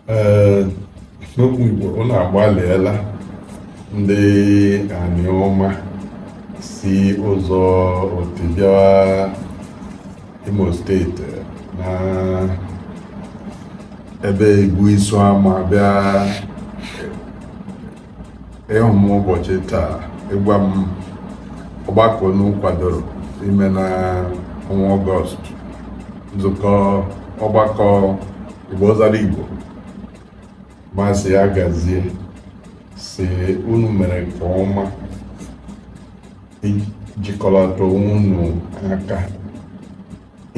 Ee, n'okwu Igbo unu agbalịela ndị Anioma si ụzọ Oti bịawa Imo steeti na ebe Igbo Isuama bịa ịhụ m ụbọchị taa ịgwa m ọgbakọ unu kwadoro ime na ọnwa ọgọst nzukọ ọgbakọ igbo zara igbo ma sị ya gazie sị unu mere nke ọma ijikọlata onwe unu aka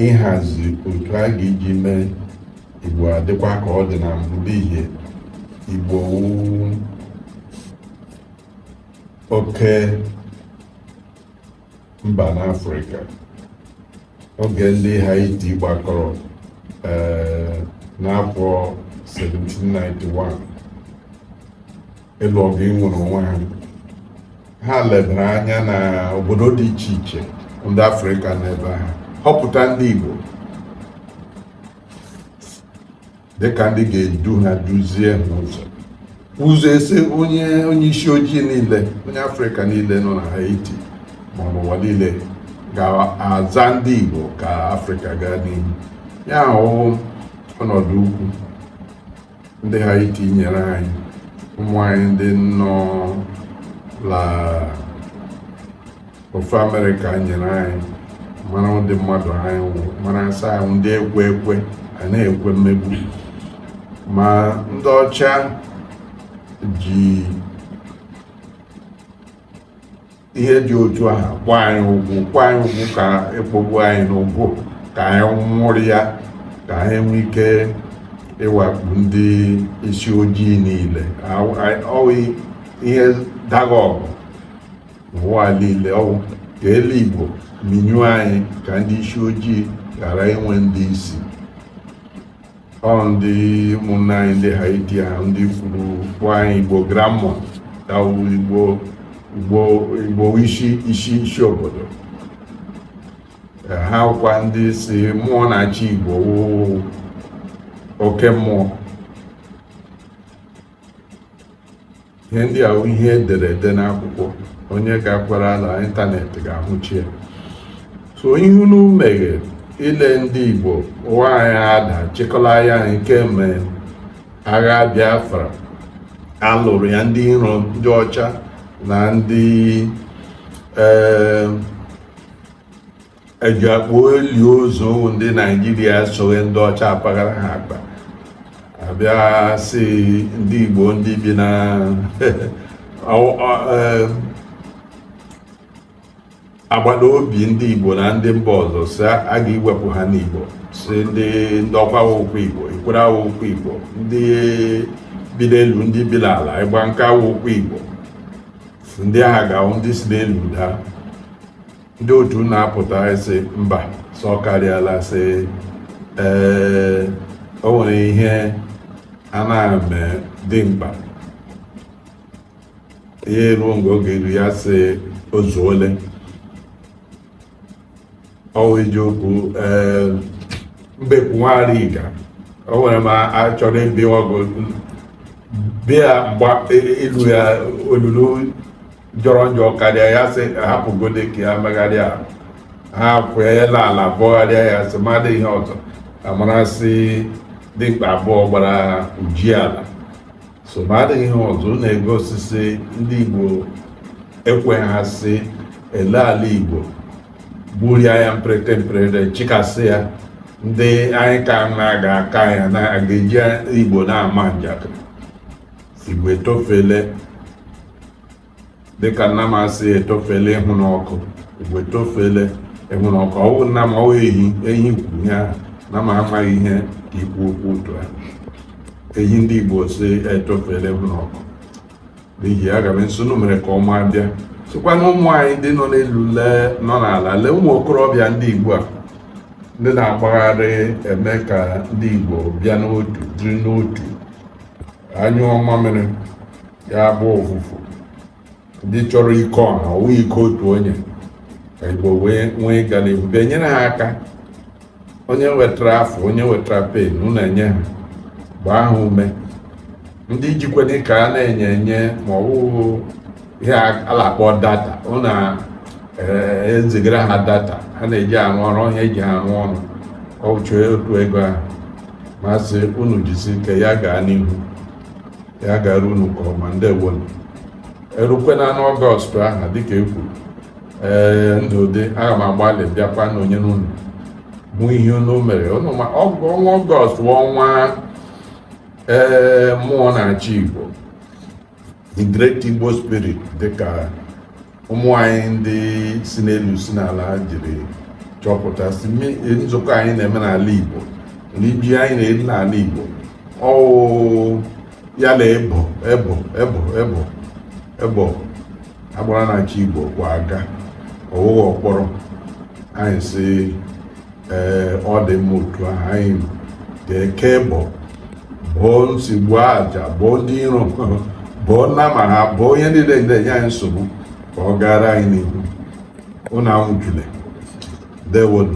ịhazi otu a ga-eji mee igbo adịkwa ka ọ dị na mbụ n'ihi igbo wụ oke mba n'afrịka oge ndị haiti gbakọrọ eh, n'afọ 1791 ịlụ ọgụ inwere onwe ha ha lebara anya na obodo dị iche iche ndị afrịka n'ebe ha họpụta ndị igbo dịka ndị ga-edu ha duzie ha ụzọ ụzọ a sị onye onye isi ojii niile onye afrịka niile nọ na haiti ma n'ụwa niile ga-aza ndị igbo ka afrịka gaa n'ihu ya wụ ọnọdụ ukwu ndị haiti nyere anyị ụmụ anyị ndị nọ la ofe amerịka nyere anyị mara ụdị mmadụ anyị wụ mara sị anyị wụ ndị ekwe ekwe a na-ekwe mmegbu ma ndị ọcha ji ihe dị otu ahụ kpọ anyị ugwu kpọ anyị ugwu ka a kpọgbu anyị n'ugwu ka anyị nwụrụ ya ka ha nwee ike ịwakpu ndị isi ojii niile ọ wụ ihe dagha ọgụ n'ụwa niile ọ wụ ka elu igbo minyuo anyị ka ndị isi ojii ghara inwe ndị isi ọ ndị ụmụnne anyị ndị Haiti a ndị kwuru kpọọ anyị Igbo Granmoun ya wụ Igbo Igbo Igbo isi isi isi obodo ha kwa ndị sị mmụọ na-achị Igbo wụ oke mmụọ ihe ndị a wụ ihe e dere ede n'akwụkwọ onye gakwara na ịntanetị ga-ahụcha ya so ihe unu meghere ile ndị Igbo ụwa anyị ada chịkọla ya kemgbe agha Biafra a lụrụ ya ndị iro ndị ọcha na ndị ee eh, eji akpụ eli ozu ndị naijiria soghị ndị ọcha apaghara ha akpa abịa sị ndị igbo ndị bi na agbata obi ndị igbo na ndị mba ọzọ sị a ga-iwepụ ha n'igbo sị ndị ndọkwa awụghịkwa igbo ikwere awụghịkwa igbo ndị bi n'elu ndị bi n'ala igbanke awụghịkwa igbo ndị a ha ga-awụ ndị si n'elu daa ndị otu na-apụta sị mba sị ọ karịala sị ee o nwere ihe a na-eme dimkpa ihe ruo mgbe oge iru ya sị o zuole ọ wụ iji okwu ee mbekwu nwa anịga o nwere ma achọrọ ịbịa ọgụ bịa mgba ilu ya olulu jọrọ njọ karịa ya sị hapụgode ka ya megharịa ahụ ha kweela ala bọgharịa ya sị ma adịghị ihe ọzọ amara sị dimkpa abụọ gbara uji ala so ma adịghị ihe ọzọ na-egosi sị ndị igbo ekwe ha sị ele ala igbo gburia ya mprete mprete chịkasị ya ndị anyị ka na-aga aka ya na-aga eji igbo na-ama njakịrị igbo etofele dịka nna m asị etofele ịhụ n'ọkụ igbo etofele ịhụ n'ọkụ ọ wụ nna m ọ wụ ehi ehi kwuru ya na m amaghị ihe ka ikwu okwu otu a ehi ndị igbo sị etofele ịhụ n'ọkụ n'ihi aga m asị unu mere nke ọma bịa sịkwa na ụmụ anyị ndị nọ n'elu lee nọ n'ala lee ụmụ okorobịa ndị igbo a ndị na-agbagharị eme ka ndị igbo bịa n'otu dịrị n'otu anyụọ mamịrị ya gbọọ ụfụfụ ndị chọrọ ike ọha ọ bụghị ike otu onye ka igbo wee nwee ịga n'ihu bịa nyere ha aka onye wetara afụ onye wetara pen unu enye ha gbaa ha ume ndị jikwene ka a na-enye enye ma ọ bụ ihe a na-akpọ data unu ezigara ha data ha na-eji arụ ọrụ onye eji ha arụ ọrụ ọ chọọ otu ego ahụ m asị unu jisi ike ya gaa n'ihu ya gara unu nke ọma ndewo erukwana n'ọgọst ahụ dịka e kwuru ee ndụ dị aga m agbalị bịakwa nọnyere unu bụ ihe unu mere unu ma ọ wụ ọnwa ọgọst bụ ọnwa ee mmụọ na-achị igbo the great igbo spirit dịka ụmụ anyị ndị si n'elu si n'ala jiri chọpụta sị nzukọ anyị na-eme n'ala Igbo n'ibi anyị na-eri n'ala Igbo ọ wụ ya na ebo ebo ebo ebo ebo agbara na-achị Igbo kwa aga ọ wụghị ọkpọrọ anyị si ee ọ dị mma otu ahụ anyị ga-eke ebo bụọ nsigbu aja bụọ ndị iro bụọ nna ma ha bụọ onye niile na-enye anyị nsogbu ka ọ gara anyị n'ihu ụnụ anwụchule ndewonu